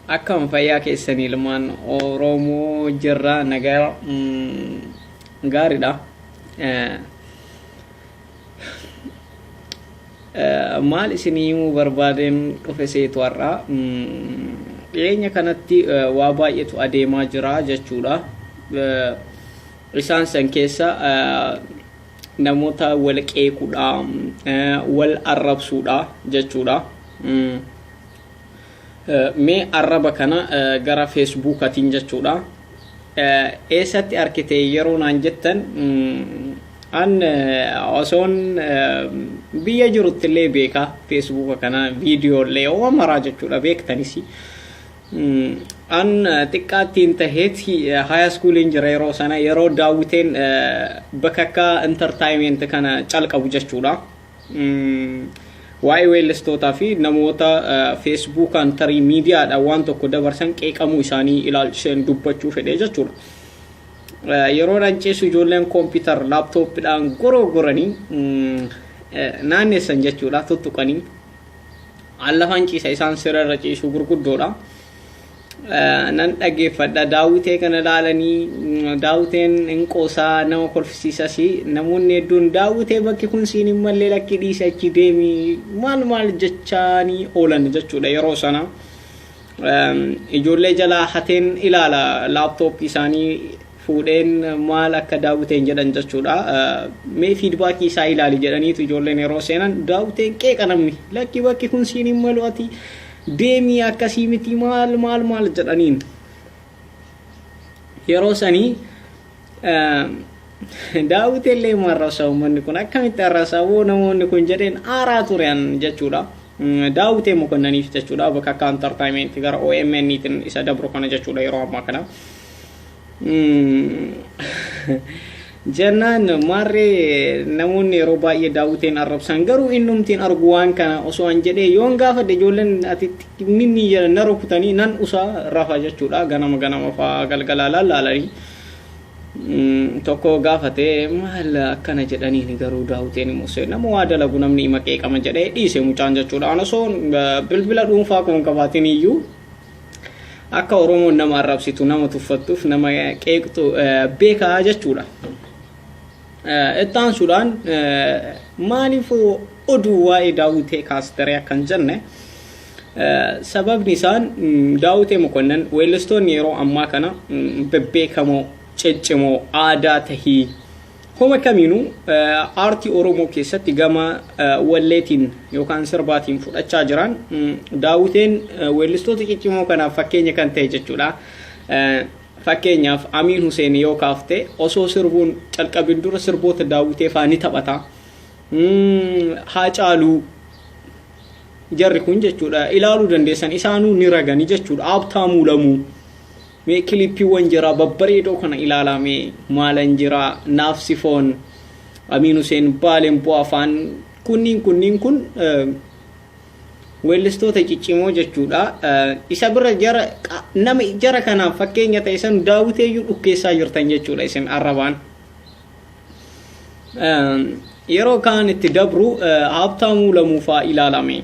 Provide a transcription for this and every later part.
Akkam fayyaa keessan ilmaan Oromoo jirra nagaa gaariidha. Maal isin himuu barbaadeen dhufe seetu har'a dhiyeenya kanatti waa baay'eetu adeemaa jira jechuudha. Isaan san keessa namoota wal qeequudha, wal arrabsuudha jechuudha. Mee arraba kana gara feesbuukatiin jechuudha. Eessatti argite yeroo naan jettan an osoon biyya jirutti illee beeka feesbuuka kana viidiyoo illee yoo maraa jechuudha beektanis. An xiqqaattiin taheetti haya iskuuliin jira yeroo sana yeroo daawwiteen bakakkaa intartaayimeenti kana calqabu jechuudha. Waa'ee weellistootaa fi namoota feesbuukaan tarii miidiyaadhaan waan tokko dabarsan qeeqamuu isaanii ilaalchiseen dubbachuu fedhee jechuudha. Yeroo dhanciisu ijoolleen koompiitar laaptooppiidhaan goroogoranii naannessan jechuudha tuttuqanii. An lafaan ciisa isaan sirarra ciisuu gurguddoodha. nan dhaggeeffadha daawwitee kana ilaalanii daawwiteen hin qoosaa nama kolfisiisas namoonni hedduun daawwitee bakki kun siin hin malle lakkii dhiise achi deemi maal maal jechaanii oolan jechuudha yeroo sana ijoollee jalaa hateen ilaala laaptooppii isaanii fuudheen maal akka daawwiteen jedhan jechuudha mee fiidbaakii isaa ilaali jedhaniitu ijoolleen yeroo seenan daawwiteen qeeqa namni lakkii bakki kun siin hin malu ati deemii akkasii miti maal maal maal jedhaniin yeroo sanii daawwiti illee marrasa uummanni kun akkamitti arrasa woo namoonni kun jedheen aaraa turan jechuudha. Daawwitee mokonnaniif jechuudha bakka akka entertainment gara OMN tiin isa dabru kana jechuudha yeroo ammaa kana. jennaan maarree namoonni yeroo baay'ee daawwiteen arrabsan garuu innumtiin argu waan kana osoo an jedhee yoon gaafadhe ijoolleen ati minni jedhan na rukutanii nan usaa rafa jechuudha ganama ganama fa'aa galgalaa laalaalanii tokko gaafate maal akkana jedhaniin garuu daawwiteen immoo nama waa dalagu namni ima qeeqama jedhee dhiise mucaan jechuudha an osoo bilbila dhuunfaa koon qabaatin iyyuu Akka Oromoon nama arrabsitu, nama tuffattuuf, nama qeeqxu beekaa jechuudha. Itti aansuudhaan maaliif oduu waa'ee daawwitee kaastaree akkan jenne sababni isaan daawwitee mokonnan weellistoonni yeroo ammaa kana bebbeekamoo ciccimoo aadaa tahii Homa kamiinuu aartii Oromoo keessatti gama walleetiin yookaan sirbaatiin fudhachaa jiraan Daawwiteen weellistoota ciccimoo kanaaf fakkeenya kan ta'e jechuudha. Fakkeenyaaf Amiin Huseen yoo kaafte osoo sirbuun calqabin dura sirboota Daawwitee fa'aa ni taphata. Haacaaluu jarri kun jechuudha ilaaluu dandeessan isaanuu ni ragani jechuudha. Abtaamuu Lamuu Mee kilippiwwan jaraa babbareedoo kana ilaalaa mee maalan jiraa naaf sifoon Amiin Huseen Baalen bu'aa faan kunniin kunniin kun weellistoota ciccimoo jechuudha isa bira jara nama jara kanaaf fakkeenya ta'e san daawwiteeyyuu dhukkeessaa jirtan jechuudha isin arrabaan yeroo kaan itti dabru haabtaamuu lamuufaa ilaalame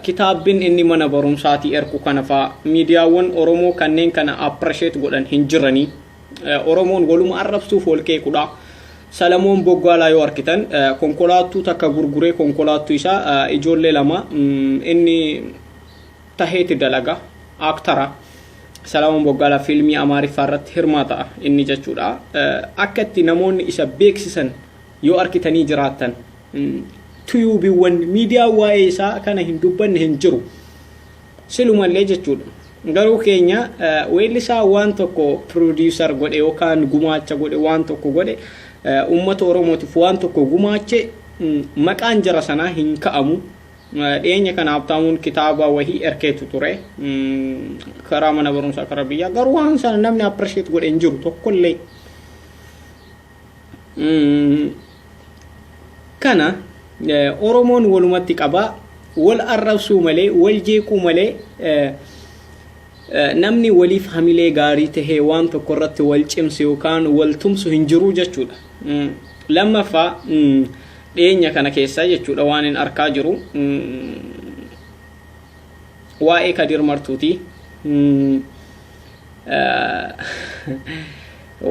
Kitaabbin inni mana barumsaatii erku kana faa miidiyaawwan Oromoo kanneen kana appreciate godhan hin jiranii. Oromoon waluma arrabsuuf wal qeequdha. Salamoon Boggaalaa yoo arkitan konkolaattuu takka gurguree konkolaattuu isaa ijoollee lama inni taheeti dalaga aaktara. Salamoon Boggaalaa fiilmii Amaariffaa irratti hirmaata inni jechuudha. Akka itti namoonni isa beeksisan Yoo arkitanii jiraattan tuyuubiwwan miidiyaan waa'ee isaa kana hin dubbanne hin jiru. Silumallee jechuudha. Garuu keenya weellisaa waan tokko piroodiisar godhe yookaan gumaacha godhe waan tokko godhe uummata Oromootiif waan tokko gumaache maqaan jara sanaa hin ka'amu. Dhiyeenya kana Habtaamuun kitaaba wahii erkeetu ture. Karaa mana barumsaa karaa biyyaa garuu waan sana namni appirisheet godhe hin jiru tokkollee. kana oromoon walumatti qaba wal arrabsuu malee wal jeequu malee namni waliif hamilee gaarii tahee waan tokko irratti wal cimsu yookaan wal tumsu hin jiru jechuudha. Lammaffaa dhiyeenya kana keessaa jechuudha waan hin arkaa jiru. waa'ee kadir martuuti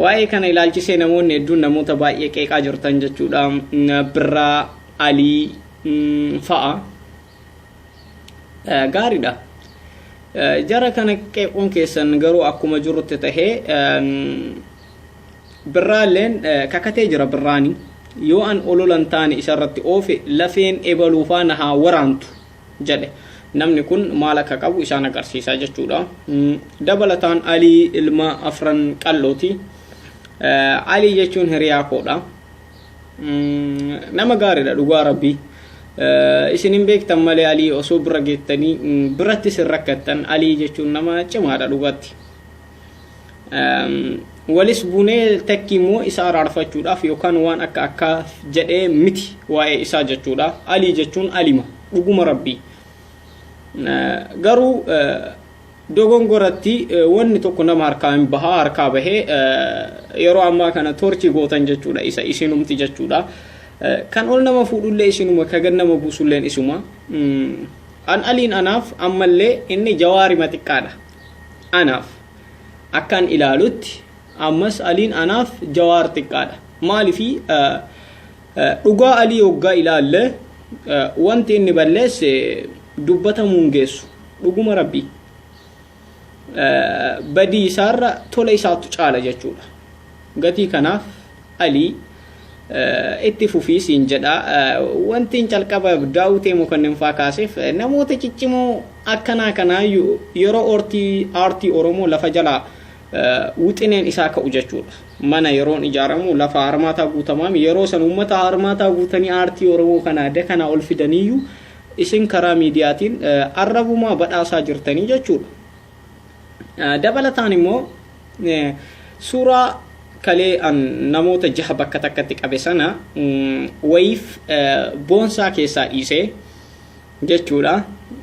waa'ee kana ilaalchisee namoonni hedduun namoota baay'ee qeeqaa jirtan jechuudha birraa alii fa'a gaariidha jara kana qeequun keessan garuu akkuma jirutti tahee birraalleen kakatee jira birraani yoo an ololan taane isarratti oofe lafeen ebaluufaa na haa waraantu jedhe. Namni kun maal akka qabu isaan agarsiisa jechuudha. Dabalataan Alii ilma afran qal'ooti. Alii jechuun hiriyaa koodha. Nama gaariidha dhugaa rabbii. Isin hin beektan malee Alii osoo bira geettanii biratti isin rakkattan Alii jechuun nama cimaadha dhugaatti. walis bunee takki immoo isa araarfachuudhaaf yookaan waan akka akkaa jedhee miti waa'ee isaa jechuudha alii jechuun alima dhuguma rabbii garuu dogongoratti wanni tokko nama harkaa hin bahaa harkaa bahee yeroo ammaa kana torchii gootan jechuudha isa isinumti jechuudha kan ol nama fuudhullee isinuma ka gad nama buusulleen isuma an aliin anaaf ammallee inni jawaarima xiqqaadha Anaaf. Akkan ilaalutti ammas Aliin anaaf Jawaar xiqqaadha. Maalifi dhugaa Alii hoggaa ilaalle wanti inni balleesse dubbatamuu hin geessu. Dhuguma Rabbii. Badii isaarra tola isaatu caala jechuudha. Gatii kanaaf Alii itti fufii siin jedha. Wantiin calqaba daawwitee mokonnin faa kaaseef namoota ciccimoo akkanaa kanaa yeroo ortii aartii Oromoo lafa jalaa wixineen isaa ka'u jechuudha. Mana yeroon ijaaramu lafa harmaataa guutamaami yeroo san uummata harmaataa guutanii aartii Oromoo kana adda kanaa ol fidaniyyuu isin karaa miidiyaatiin arrabumaa badhaasaa jirtanii jechuudha. Dabalataan immoo suuraa kalee an namoota jaha bakka takkatti qabe sana wayiif boonsaa keessaa dhiisee jechuudha.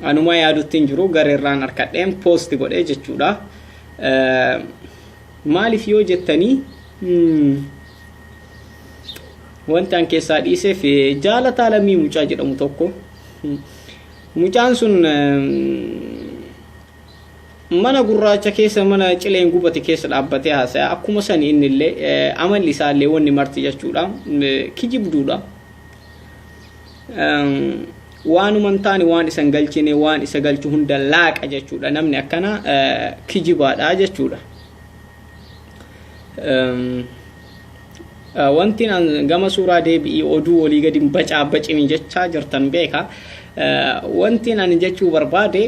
Anuma yaadutti hin jiru garerraan harkadheen poosti godhe jechuudha. Maaliif yoo jettanii wanti an keessaa dhiiseef jaalataa lammii mucaa jedhamu tokko mucaan sun mana gurraacha keessa mana cileen gubate keessa dhaabbatee haasaya akkuma sani inni illee amalli isaa illee wanni marti jechuudha kijibduudha waanuma hin taane waan isan galchine waan isa galchu hunda laaqa jechuudha namni akkana kijibaadha jechuudha. wanti gama suuraa deebi'ii oduu olii gadi bacaa bacini jechaa jirtan beeka wanti ani jechuu barbaade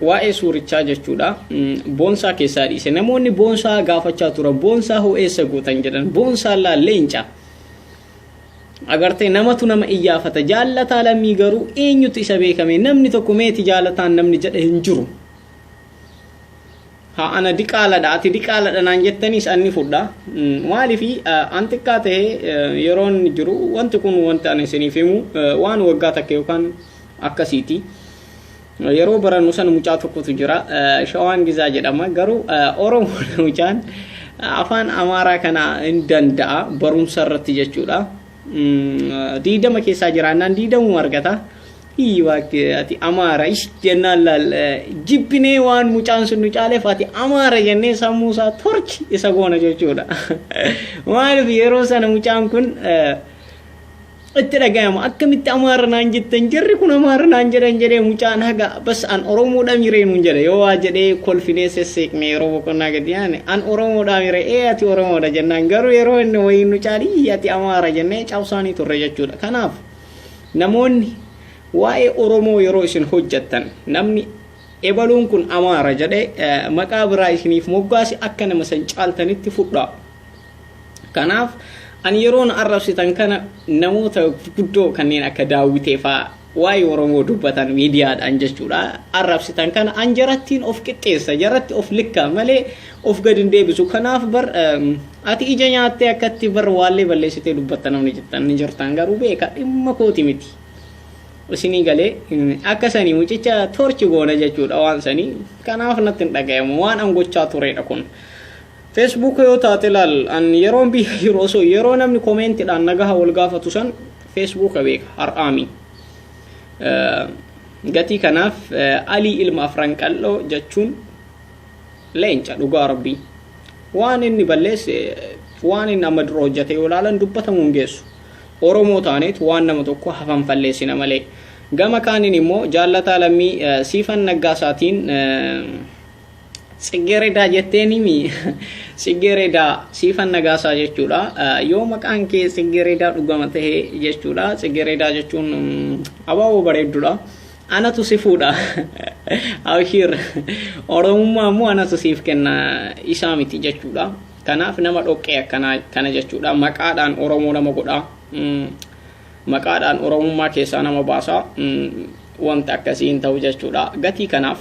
waa'ee suurichaa jechuudha boonsaa keessaa dhiise namoonni boonsaa gaafachaa tura boonsaa hoo eessa gootan jedhan boonsaa laa leenca agartee namatu nama iyyaafata jaallataa lammii garuu eenyutu isa beekame namni tokko meeti jaalataan namni jedhe hin jiru Ha ana diqaaladha ati diqaaladha naan jettaniis anni fudha. Maalifi an xiqqaa ta'e yeroon jiru wanti kun wanti ani isiniif himu waan waggaa takka yookaan akkasiiti. Yeroo barannu sana mucaa tokkotu jira shawaan gizaa jedhama garuu oromoodha mucaan afaan amaaraa kana hin danda'a barumsa irratti jechuudha. Diidama keessaa jiraannaan diidamuu argata. Hii waaqti ati amaara ish jennaan laal jibbinee waan mucaan sun nu caaleef ati amaara jennee sammuu isaa torchi isa goona jechuudha. Maaliif yeroo sana mucaan kun itti dhagayama akkamitti amaara naan jettan jarri kun amaara naan jedhan jedhee mucaan haga Abbas an oromoodha miree nuun jedha yoo waa jedhee kolfinee sesseeqne yeroo boqonnaa gadi yaane an oromoodha mire ee ati oromoodha jennaan garuu yeroo inni wayii nu caalii ati amaara jennee cabsaanii turre jechuudha kanaaf namoonni waa'ee oromoo yeroo isin hojjattan namni ebaluun kun amaara jedhe maqaa biraa isiniif moggaasi akka nama san caaltanitti fudhaa kanaaf ani yeroon arrabsitan kana namoota guddoo kanneen akka daawwitee fa'aa waa'ee Oromoo dubbatan miidiyaadhaan jechuudha arrabsitan kana an jarattiin of qixxeessa jaratti of likkaa malee of gad hin deebisu kanaaf bar ati ija nyaattee akkatti bar waallee balleessitee dubbatta namni jettan ni jirtaan garuu beeka dhimma kooti miti isinii galee akka sanii mucicha torchi goona jechuudha waan sanii kanaaf natti hin dhagayamu waan an gochaa tureedha kun Facebook yoo taate laal an yeroon biyya jiru osoo yeroo namni komeentidhaan nagaha wal gaafatu san Facebook beeka har'aami. Gatii kanaaf alii ilma afran qal'oo jechuun leenca dhugaa rabbii. Waan inni balleesse waan inni amma dura hojjate yoo ilaalan dubbatamuu hin geessu. Oromoo taaneet waan nama tokko hafan falleessina malee. Gama kaaniin immoo jaallataa lammii siifan naggaasaatiin Tsiggeredaa jetteeniimi Tsiggeredaa siifan nagaasaa jechuudha. Yoo maqaan kee Tsiggeredaa dhugama ta'e jechuudha. Tsiggeredaa jechuun abaaboo bareedduudha. Anatu si fuudha. Abshiir Oromummaa immoo anatu siif kenna isaa miti jechuudha. Kanaaf nama dhoqqee akkanaa kana jechuudha. Maqaadhaan Oromoo nama godha. Maqaadhaan Oromummaa keessaa nama baasa. Wanta akkasii hin ta'u jechuudha. Gatii kanaaf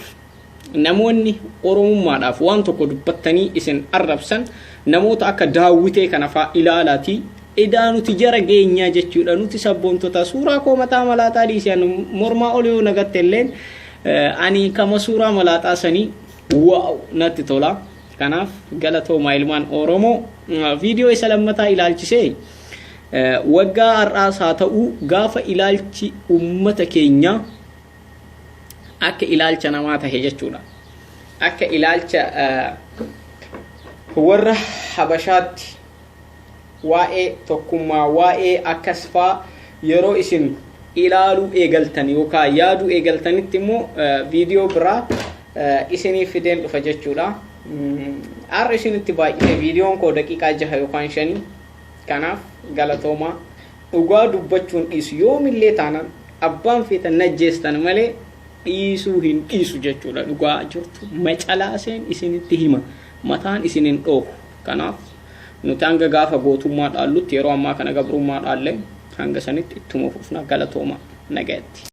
Namoonni Oromummaadhaaf waan tokko dubbattanii isin arrabsan namoota akka Daawwitee kana faa ilaalaatii edaa nuti jara geenyaa jechuudha nuti sabboontotaa suuraa koo mataa malaaxaa dhiisi an mormaa ol yoo nagatte illeen ani kama suuraa malaaxaa sanii waaw natti tola kanaaf galatoomaa ilmaan Oromoo viidiyoo isa lammataa ilaalchisee waggaa har'aas haa ta'uu gaafa ilaalchi ummata keenyaa akka ilaalcha namaa tahe jechuudha akka ilaalcha warra habashaatti waa'ee tokkummaa waa'ee akkas faa yeroo isin ilaaluu eegaltan yookaan yaaduu eegaltanitti immoo viidiyoo biraa isiniif fideen dhufa jechuudha. Har'a isinitti baay'ee viidiyoon koo daqiiqaa jaha yookaan shanii kanaaf galatoomaa. Dhugaa dubbachuun dhiisu. Yoomillee taanaan abbaan feetan najjeestan malee dhiisuu hin dhiisu jechuudha. Dhugaa jirtu macalaaseen isinitti hima. Mataan isin hin dhoohu. Kanaaf nuti hanga gaafa gootummaa dhaallutti yeroo ammaa kana gabrummaa dhaallee hanga sanitti ittuma fufna galatoomaa nagayatti.